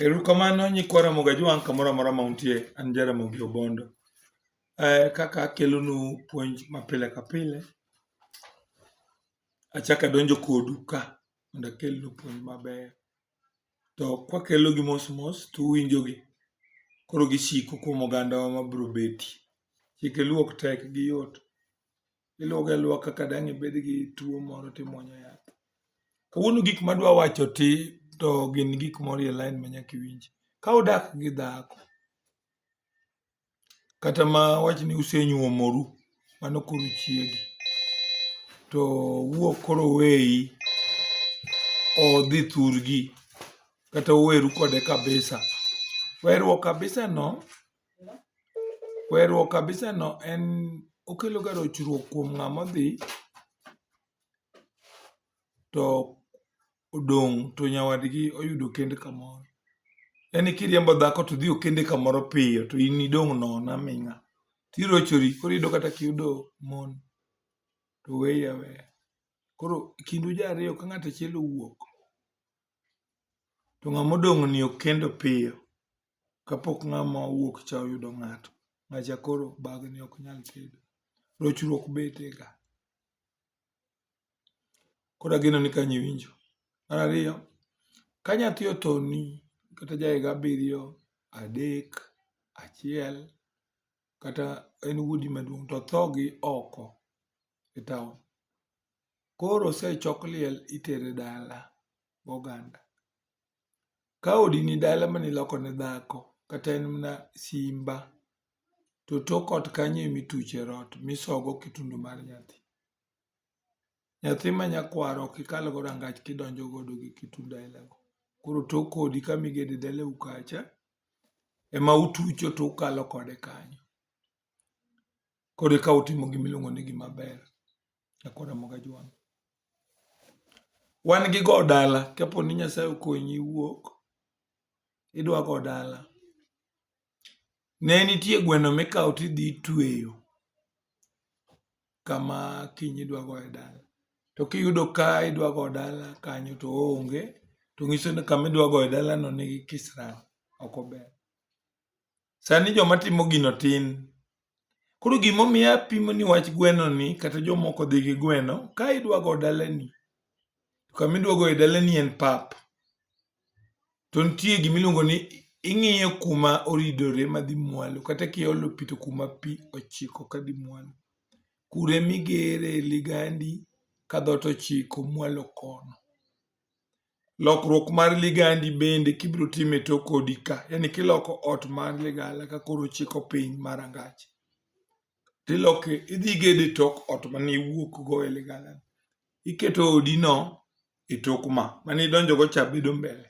Erukamano nyikwa Ramogi Ajwang' kamoro amora ma untie, an Jaramogi Obondo. Eh, kaka akelonu puonj ma pile ka pile, achako adonjo kodu ka mondo akelnu puonj mabeyo. To kwakelogi mos mos to uwinjogi, koro gisiko kuom ogandawa ma biro betie. Chike luo ok tek, giyot. iluogo aluoga kaka dang' ibed gi tuo moro timwonyo yath. Kawuono gik madwa wacho ti to gin gik moro e lain ma nyaka iwinj. Ka udak gi dhako kata ma wach ni usenyuomoru, mano koro chiegi, to wuok koro oweyi, odhi thurgi kata uweru kode kabisa, werruok kabisano Weruok kabisa no en okelo ga rochruok kuom ng'ama odhi to odong' to nyawadgi oyudo kend kamoro. Yani kiriembo dhako to odhi okende kamoro piyo to in idong' nono aming'a. To irochori koro iyudo kata kiyudo mon to weyi aweya. Koro kindu ji ariyo ka ng'ato achiel owuok to ng'ama odong' ni okendo piyo. kapok ng'ama owuok cha oyudo ng'ato, ng'acha koro bagni ok nyal tedo. Rochruok bete ga. Koro ageno ni kanyo iwinjo. Mar ariyo, ka nyathi otoni kata ja higa abiriyo, adek, achiel kata en wuodi maduong' to otho gi oko e taon, koro osechok liel itere dala goganda. Ka odi ni dala mane iloko ne dhako kata en mana simba to tok ot kanyo ema ituche rot misogo kitundu mar nyathi. Nyathi ma nyakwaro ok ikal go rangach kidonjo godo gi kitundu aila go. Koro tok odi kama igede dalau kacha ema utucho to ukalo kode kanyo. Koro eka utimo gima iluongo ni gima ber. Wan gi go dala kapo ni Nyasaye okonyi wuok idwa go dala. Ne nitie gweno mikawo tidhi itweyo kama kiny idwa goye dala. To kiyudo ka idwa go dala kanyo to oonge to ng'iso ni kama idwa goye dalano nigi kisirani, ok ober. Sani joma timo gino tin. Koro gimomiyo apimo ni wach gweno ni kata jomoko dhi gi gweno, ka idwa go dalani, to kama idwa goye dalani en pap. To nitie gima iluongo ni ing'iyo kuma oridore madhi mwalo, kata kiolo pi to kuma pi ochiko kadhi mwalo. Kuro ema igere ligandi ka dhoot ochiko mwalo kono. Lokruok mar ligandi bende kibiro time to kodi ka, yani kiloko ot mar ligala ka koro chiko piny mar angach. Tiloke idhi gede tok ot mane iwuok go e ligala. Iketo odi no e tok ma mane idonjo go cha bedo mbele.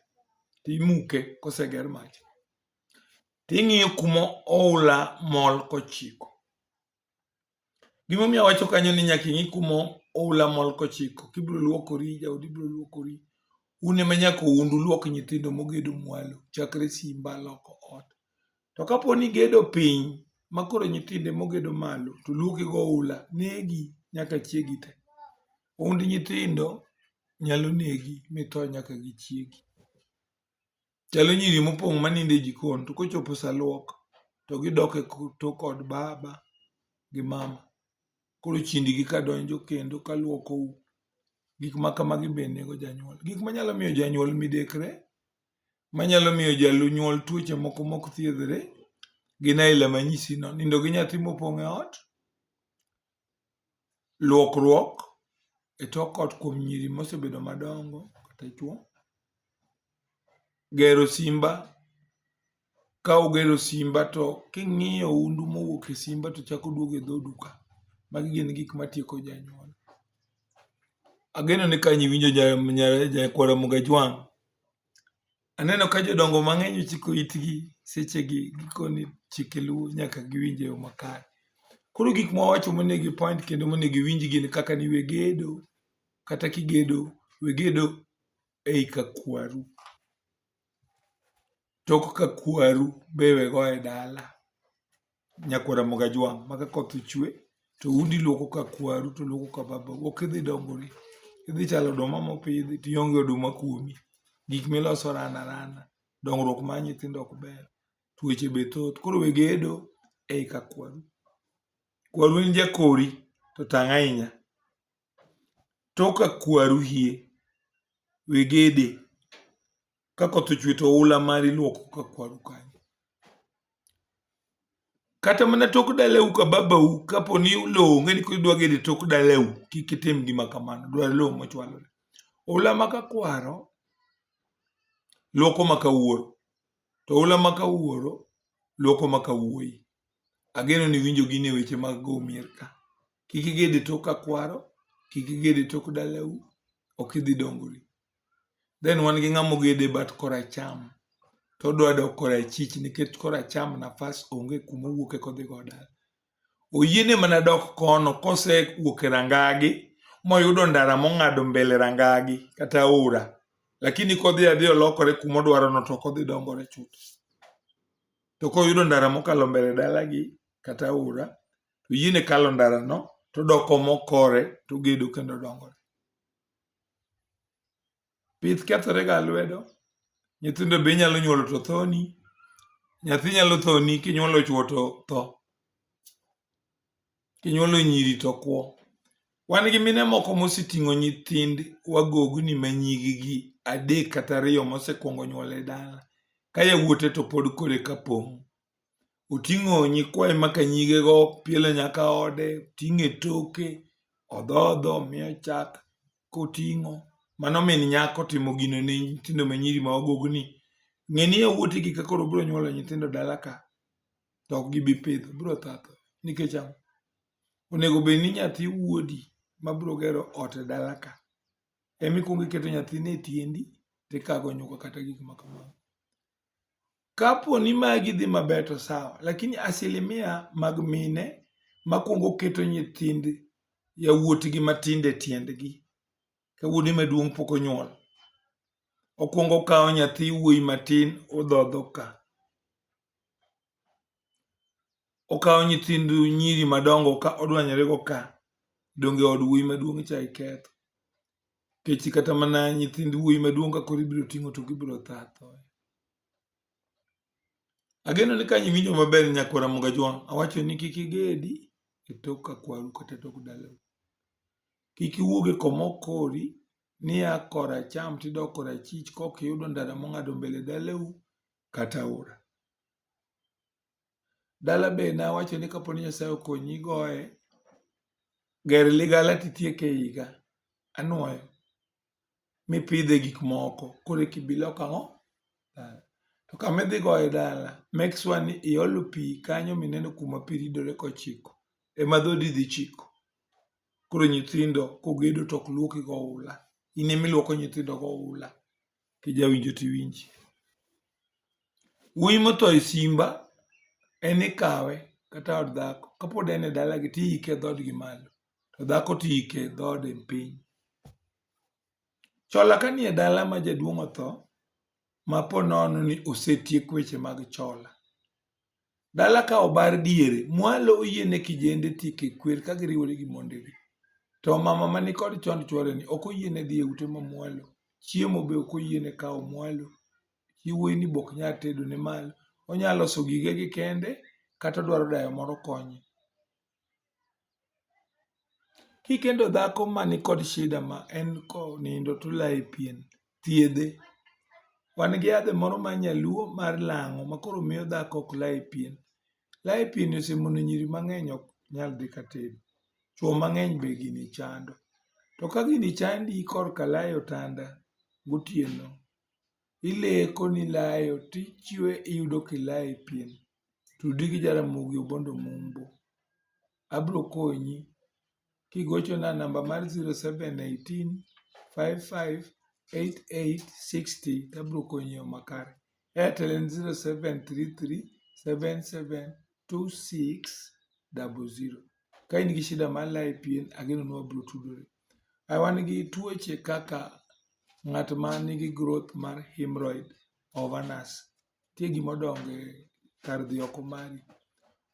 Timuke koseger mach. Ting'iyo kuma oula mol kochiko. Gimomiyo awacho kanyo ni nyaka ing'i kuma oula mol kochiko, kibiro luokori, jaodi biro luokori. Un ema nyaka uund uluok nyithindo mogedo mwalo, chakre simba loko ot. To kapo ni igedo piny, ma koro nyithindo ema ogedo malo, to luoki gi oula, negi nyaka chiegi te. Ound nyithindo nyalo negi, mitho nyaka gi chiegi. Chalo nyiri mopong' manindo e jikon to kochopo sa luok to gidok e tok od baba gi mama. Koro chindigi ka donjo kendo ka luokou. Gik ma kamagi be nego janyuol. Gik manyalo miyo janyuol midekre, manyalo miyo janyuol tuoche moko mok thiedhre gin aila manyisino. Nindo gi nyathi mopong' e ot, luokruok e tok ot kuom nyiri mosebedo madongo kata chwo, gero simba ka ugero simba to king'iyo undu mowuok e simba to chako duogo e dhoodu ka. Magi gin gik matieko janyuol. Ageno ni ka ang' iwinjo nyakwar Mgajwang' Aneno ka jodongo mang'eny ochiko itgi sechegi gikoni chike luo nyaka giwinj e yo makare. Koro gik mwawacho monego gi point kendo monego giwinj gin kaka ni we gedo kata kigedo we gedo ei ka kwaru. Tok ka kwaru be we go e dala. nyakwar Ramogi Ajwang' ma ka koth ochwe to udi lwoko ka kwaru to lwoko ka babau ok idhi dongori. Idhi chalo oduma mopidhi to ionge oduma kuomi. Gik miloso ran arana. Dongruok mar nyithindo ok ber. Tuoche be thoth. Koro we gedo ei ka kwaru. Kwaru en jakori to tang' ahinya. Tok ka kwaru hie, we gede. ka koth ochwe to oula mari iluoko ka kwaru kanyo kata mana tok dalau ka babau kapo ni lowo onge ni kidwa gede tok dalau kik itim gima kamano dwar lowo mochwalore oula ma ka kwaro luoko ma ka wuoro to oula ma ka wuoro luoko ma ka wuoyi ageno ni winjo gin e weche mag go mier ka kik igede tok ka kwaro kik igede tok dalau ok idhi dongori then wan gi ng'ama ogedo e bat koracham to odwa dok korachich nikech koracham nafas onge kuma owuok eka odhi go dala. Oyiene mana dok kono kosewuok e rangagi moyudo ndara mong'ado mbele rangagi kata aora lakini kodhi adhi olokore kuma odwarono to ok odhi dongore chuth. To koyudo ndara mokalo mbele dalagi kata aora to oyiene kalo ndarano todok omo kore togedo kendo odongore. Pith kethore ga lwedo. Nyithindo be inyalo nyuolo to thoni. Nyathi nyalo thoni kinyuolo chuo to tho. Kinyuolo nyiri to kwo. Wan gi mine moko moseting'o nyithind wagogni ma nyigi gi adek kata ariyo mosekwongo nyuol e dala. Ka yawuote to pod kore ka pong'. oting'o nyikwaye maka nyigego piele nyaka ode, oting'e toke, odhodho, miyo chak koting'o. Mano min nyako timo gino ne nyithindo ma nyiri ma ogogni. Ng'e ni yawuoti gi ka koro biro nyuolo nyithindo dala ka, to ok gibi pidho, biro tha atha. Nikech ang'o? Onego bed ni nyathi wuodi ma biro gero ot e dala ka, ema ikuongo iketo nyathini e tiendi, to ikago nyuka kata gik ma kamago. Kapo ni magi dhi maber to sawa, lakini asilimia mag mine makwongo keto nyithind yawuotgi matindo e tiendgi ka wuode maduong' pok onyuol. Okwongo okawo nyathi wuoyi matin odhodho ka. okawo nyithind nyiri madongo ka odwanyore go ka donge od wuoyi maduong' cha iketho kechi kata mana nyithind wuoyi maduong' ka koro ibiro ting'o to gibiro tha thoye ageno ni ka iwinjo maber nyakwar Ramogi Ajwang' awacho ni kik igedi e tok ka kwaru kata e tok dalau kik iwuog e koma okori niya koracham tidok korachich kok iyudo ndara mong'ado mbele dalau kata aora Dala be nawacho ni kapo ni Nyasaye okonyi goye, ger ligala titieke e higa anwoyo mipidhe gik moko koro eka ibi lok ang'o? Dala. To kama idhi goye dala, make sure ni iolo pi kanyo mineno kuma pi ridore kochiko, ema dhodi dhi chiko. Koro nyithindo kogedo to ok lwoki goula, in ema ilwoko nyithindo goula. kijawinjo to iwinji. Wuoyi motho e simba en ikawe kata od dhako kapod en e dalagi to iike e dhoodgi malo to dhako to iike e dhoode piny. Chola kanie dala ma jaduong' otho ma po nono ni osetiek weche mag chola, Dala ka obar diere, mwalo oyiene kijende tieko e kwer ka giriwore gi mondegi. To mama ma nikod chond chworeni ok oyiene dhi e ute ma mwalo. Chiemo be ok oyiene kawo mwalo. Chi wuoyini be ok nyal tedo ne malo. Onyalo loso gigege kende kata odwaro dayo moro konye. Kikendo dhako ma nikod shida ma en konindo to ulaye pien, thiedhe. Wan gi yadhe moro mar nyaluo mar lang'o ma koro miyo dhako ok laye pien. Laye pien osemono nyiri mang'eny ok nyal dhi ka tere. Chwo mang'eny be gini chando. To ka gini chandi korka laye otanda gotieno, ileko nilayo tichwe iyudo kilaye pien. Tudi gi Jaramogi Obondo Mumbo. Abiro konyi kigochona namba mar 0718558860 tabiro konyi yo makare. Airtel en 0733772600. Ka in gi shida mar layi pien, ageno ni wabiro tudore. Ai wan gi tuoche kaka ng'at ma nigi growth mar hemorrhoid, ovanas. nitie gima odongo e kar dhi oko mari.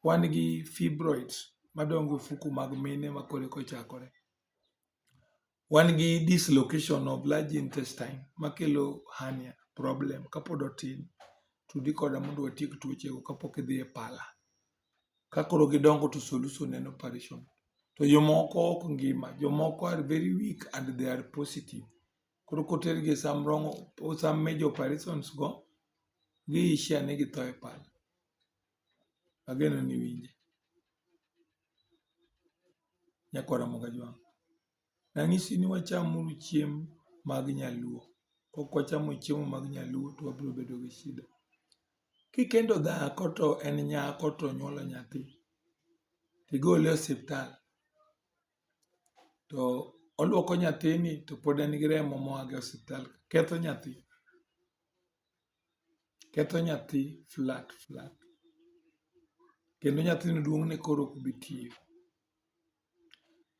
Wan gi fibroids madongo e ofuku mag mine ma koro eka ochakore. Wan gi dislocation of large intestine makelo hernia problem kapod otin. Tudi koda mondo watiek tuochego kapok idhi e pala. Ka koro gidongo to solution en operation. To jomoko ok ngima, jomoko are very weak and they are positive. koro kotergi e sam rong'o sam major operations go gi issue ni githo e pala ageno ni iwinje nyakwar Ramogi Ajwang' nang'isi ni wacham uru chiemb mag nyaluo kok wachamo chiemo mag nyaluo to wabiro bedo gi shida kikendo dhako to en nyako to nyuolo nyathi tigole e osiptal to oluoko nyathini to pod en gi remo moa go e osiptal ketho nyathi, ketho nyathi flat flat kendo nyathino duong' ne koro ok bi tiyo.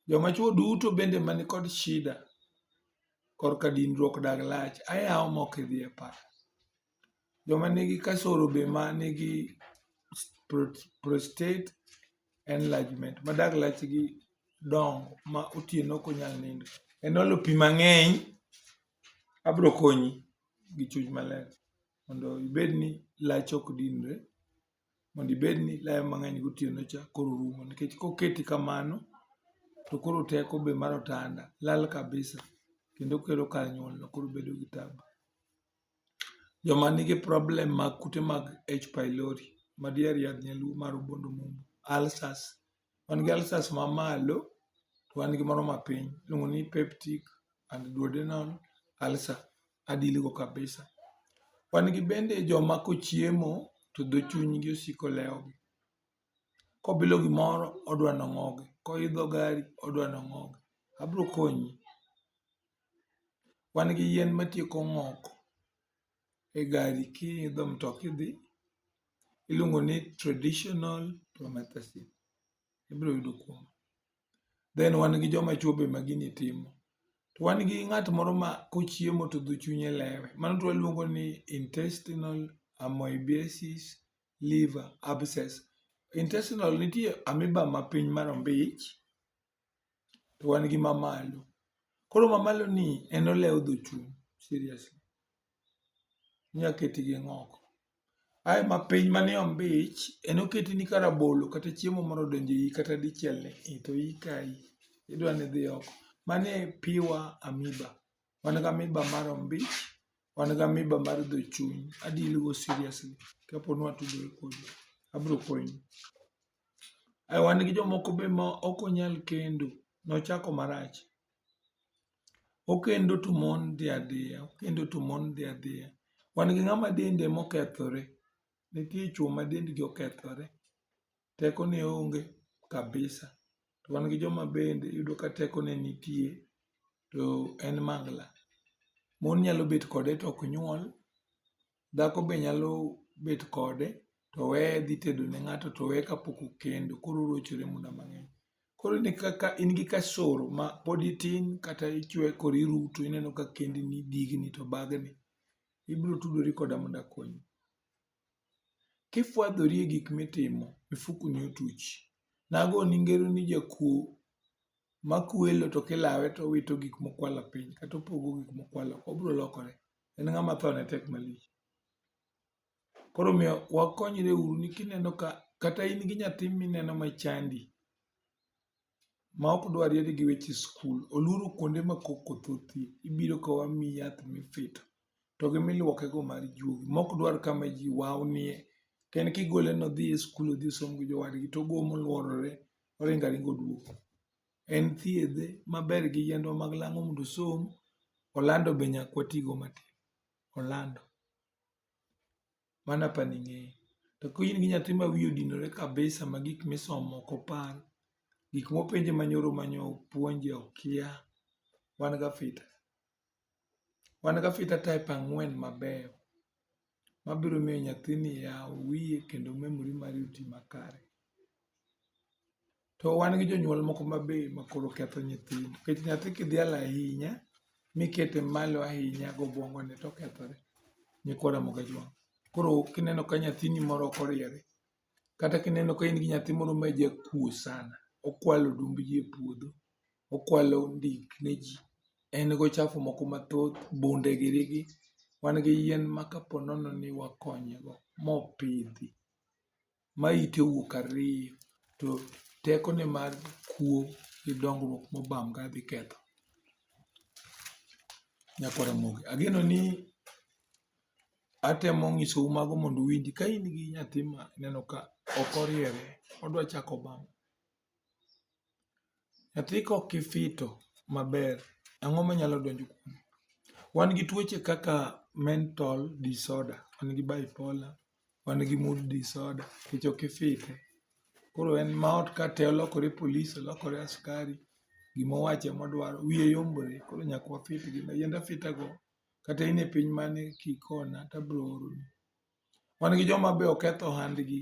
Joma chuo duto bende man kod shida korka dinruok dag lach ayawo ma ok idhi e pap. Joma nigi kasoro be ma nigi prostate enlargement ma dag lachgi dongo ma otieno ok onyal nindo en olo pi mang'eny, abro konyi gi chuny maler mondo ibed ni lachi ok dinre, mondo ibed ni ilayo mang'eny gotieno cha koro rumo nikech koketi kamano to koro teko be mar otanda lal kabisa kendo kelo kar nyuolno koro bedo gi tabu. Joma nigi problem mag kute mag H. pylori, ma diher yadh nyaluo mar obuongo mumbo, ulcers. Wan gi ulcers ma malo, to wan gi moro ma piny. Iluongo ni peptic and duodenal ulcer. A deal go kabisa. Wan gi bende joma kochiemo to dho chunygi osiko lewo gi. kobilo gimoro odwa ni ong'ogi, koidho gari odwa ni ong'ogi. Abiro konyi. Wan gi yien matieko ng'ok e gari kiidho mtoka idhi, iluongo ni traditional promethazine. Ibiro yudo kuoma. Then wan gi joma chwo be ma gini timo. To wan gi ng'at moro ma kochiemo to dho chunye lewe. Mano to waluongo ni intestinal amoebiasis liver abscess. Intestinal nitie amoeba ma piny ma rombich to wan gi ma malo. Koro ma malo ni en olewo dho chuny seriously. Inya keti gi ng'oko. Ae ma piny ma ni ombich en oketi ni ka rabolo kata chiemo moro odonjo iyi kata dichiel ni ii to iyi kayi. Idwa ni idhi oko. Mano e pure amoeba. Wan gi amiba mar ombich, wan gi amiba mar dho chuny. A deal go seriously kapo ni watudore kodi. Abiro konyi. Ai wan gi jomoko be ma ok onyal kendo, nochako marach. Okendo to mon dhi adhiya, okendo to mon dhi adhiya. Wan gi ng'ama dende ema okethore, nitie chuo ma dendgi okethore. teko ne onge kabisa. To wan gi joma bende iyudo ka teko ne nitie to en mangla. Mon nyalo bet kode to ok nyuol, dhako be nyalo bet kode to oweye dhi tedo ne ng'ato to oweye kapok okendo koro orochore muda mang'eny. Koro iyudo ka in gi kasoro ma pod itin kata ichwe koro iruto ineno ka kendi ni digni to bagni, ibiro tudori koda mondo akonyi. Kifwadhori e gik mitimo, mifukoni otuch. Nagoni ngero ni jakuo ma kwelo to kilawe to owito gik mokwalo piny kata opogo gik mokwalo oko, obiro lokore. En ng'ama thone tek malich. Koro omiyo wakonyreuru ni kineno ka kata in gi nyathi mineno machandi, ma ok dwa ried gi weche skul, olworo kuonde ma koko thothie, ibiro ka wamiyi yath mifito, to gi milwokego mar juogi, ma ok dwar kama ji wawnie. To en kigole nodhi e skul odhi osom gi jowadgi, to ogo molworore, oringo aringa oduogo. En thiedhe maber gi yiendwa mag lang'o mondo osom, Orlando be nyaka watigo matin. Orlando. Mano apa ni ing'eyo. To ka in gi nyathi ma wiye odinore kabisa ma gik misomo ok opar, gik mopenje ma nyoro ma nyo puonje okia, wan gi afita. Wan gi afita type ang'wen mabeyo ma biro miyo nyathini yaw wiye kendo memory mare oti makare. To wan gi jonyuol moko ma be ma koro ketho nyithindo. Nikech nyathi kidhialo ahinya, mikete malo ahinya gi obwongo ne to okethore. Nyikwa Ramogi Ajwang'. Koro kineno ka nyathini moro ok oriere, kata kineno ka in gi nyathi moro ma jakuo sana, okwalo odumb ji e puodho, okwalo ondik ne ji, en gi ochafu moko mathoth, bunde giri gi. Wan gi yien ma ka po nono ni wakonye go, mopidhi. ma ite owuok ariyo to tekone mar kuo gi dongruok mobam ka dhi ketho nyako Ramogi. Ageno ni atemo nyisou mago mondo uwinji. Ka in gi nyathi ma ineno ka ok oriere, odwa chako bam, Nyathi ka ok ifito maber, ang'o manyalo donjo kuome? Wan gi tuoche kaka mental disorder, wan gi bipolar, wan gi mood disorder nikech ok ifite. Koro en ma ot ka te olokore polis, olokore askari, gima owacho ema odwaro, wiye yombre. Koro nyaka wafit gi. Yiend afita go, kata in e piny mane kikona to abiro oroni. Wan gi joma be oketho ohandgi.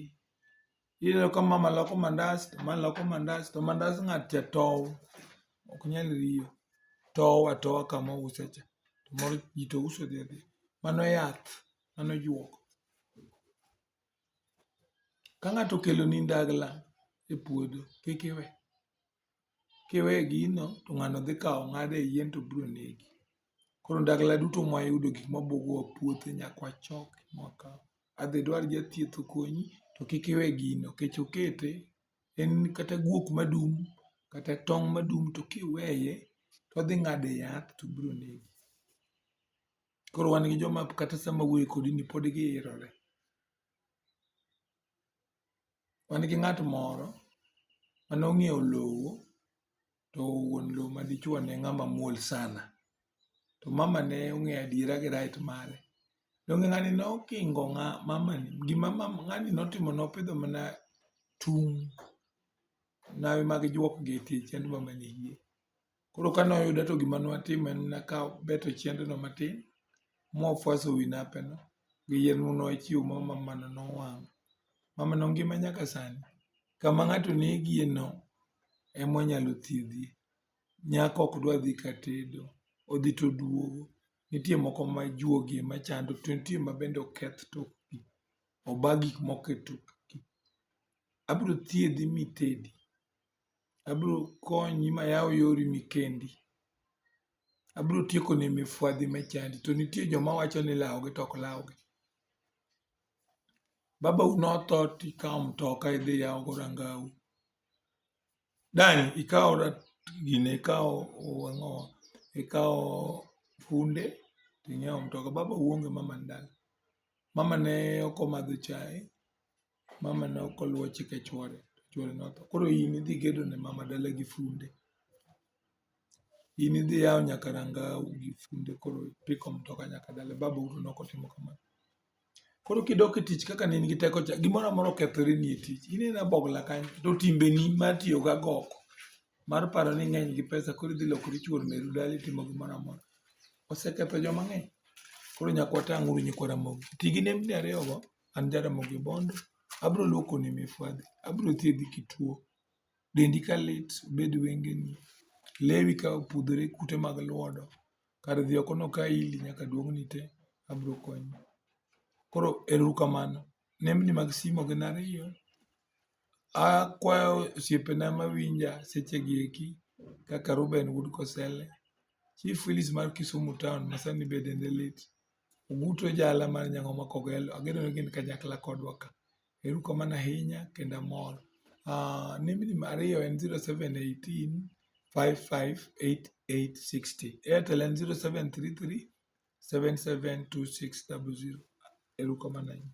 Ineno ka mama loko mandas to ma loko mandas to mandas ng'at cha tow ok nyal riyo tow atowa kama ouse cha to moro ji to uso odhi adhiya mano yath mano juok ka ng'ato okeloni ndagla e puodho kik iwe Kiweyo gino to ng'ano dhi kawo ong'ado e yien to biro negi. Koro ndagla duto ma wayudo gik ma buogo e puothe nyaka wachok ma wakaw. Adhi idwar jathieth okonyi to kik iwe gino nikech okete en kata guok madum kata tong' madum to kiweye to odhi ng'ado e yath to biro negi. Koro wan gi joma kata sama wawuoyo kodi ni pod giikore. wan gi ng'at moro mane ong'iewo lowo to wuon lowo madichuo ne ng'ama muol sana. To mamane ong'eyo adiera gi right mare. Donge ng'ani ne okingo mamani? Gima ng'ani ne otimo ne opidho mana tung' lawe mag juok gi e tie chiend mamani. Koro kane oyuda to gima nwatimo en mana ka beto chiendno matin mwafuaso wi napeno gi yien ma nwachiwo ma mamano nowang'o. Mamano ngima nyaka sani. Kama ng'ato onegieno ema wanyalo thiedhie. Nyako ok dwa dhi ka tedo, odhi to oduogo. Nitie moko ma juogi ema chando to nitie ma bende oketh tokgi, oba gik moko e tokgi. Abiro thiedhi mitedi. Abiro konyi ma ayaw yori ma ikendi. Abiro tieko ni mifwadhi ma chandi. To nitie joma wacho ni lawo gi to ok law gi. Babau ne otho to ikawo mtoka idhi iyawo go rangau. Dang' ikaw gini ikaw ang'owa ikaw funde to ing'iew mtoka. Babau onge mama ne dala. Mama ne ok omadho chae. mama ne ok oluwo chike chwore to chwore notho koro in idhi gedo ne mama dala gi funde in idhi yawo nyaka ranga gi funde koro ipiko mtoka nyaka dala baba uto ne ok otimo kamano koro kidok e tich kaka ne in gi teko cha gimoro amora okethore ni e tich in ina bogla kanyo to timbeni mar tiyo ga goko mar paro ni ng'eny gi pesa koro idhi lokori chuor meru dala itimo gimoro amora oseketho joma ng'eny koro nyaka watang' uru nyikwa ramogi ti gi nembni ariyogo an Jaramogi Bondo, abro luokoni mifwadhi, abro thiedhi kituo, dendi ka lit, obed wengeni, lewi ka opudhore, kute mag lwodo, kar dhi oko noka ili nyaka duong'ni te, abro konyi. Koro ero uru kamano. Nembni mag simu gin ariyo, akwayo osiepena mawinja sechegi eki kaka Reuben wuod Kosele, Chief Willis mar Kisumu taon masani be dende lit, Ogutu e jala mar Nyang'oma Kogelo. Ageno ni gin kanyakla kodwa ka. Ero uru kamano ahinya kendo amor. Uh, nembni ma ariyo en 0718 558860. Airtel en 0733 772600. Ero uru kamano ahinya.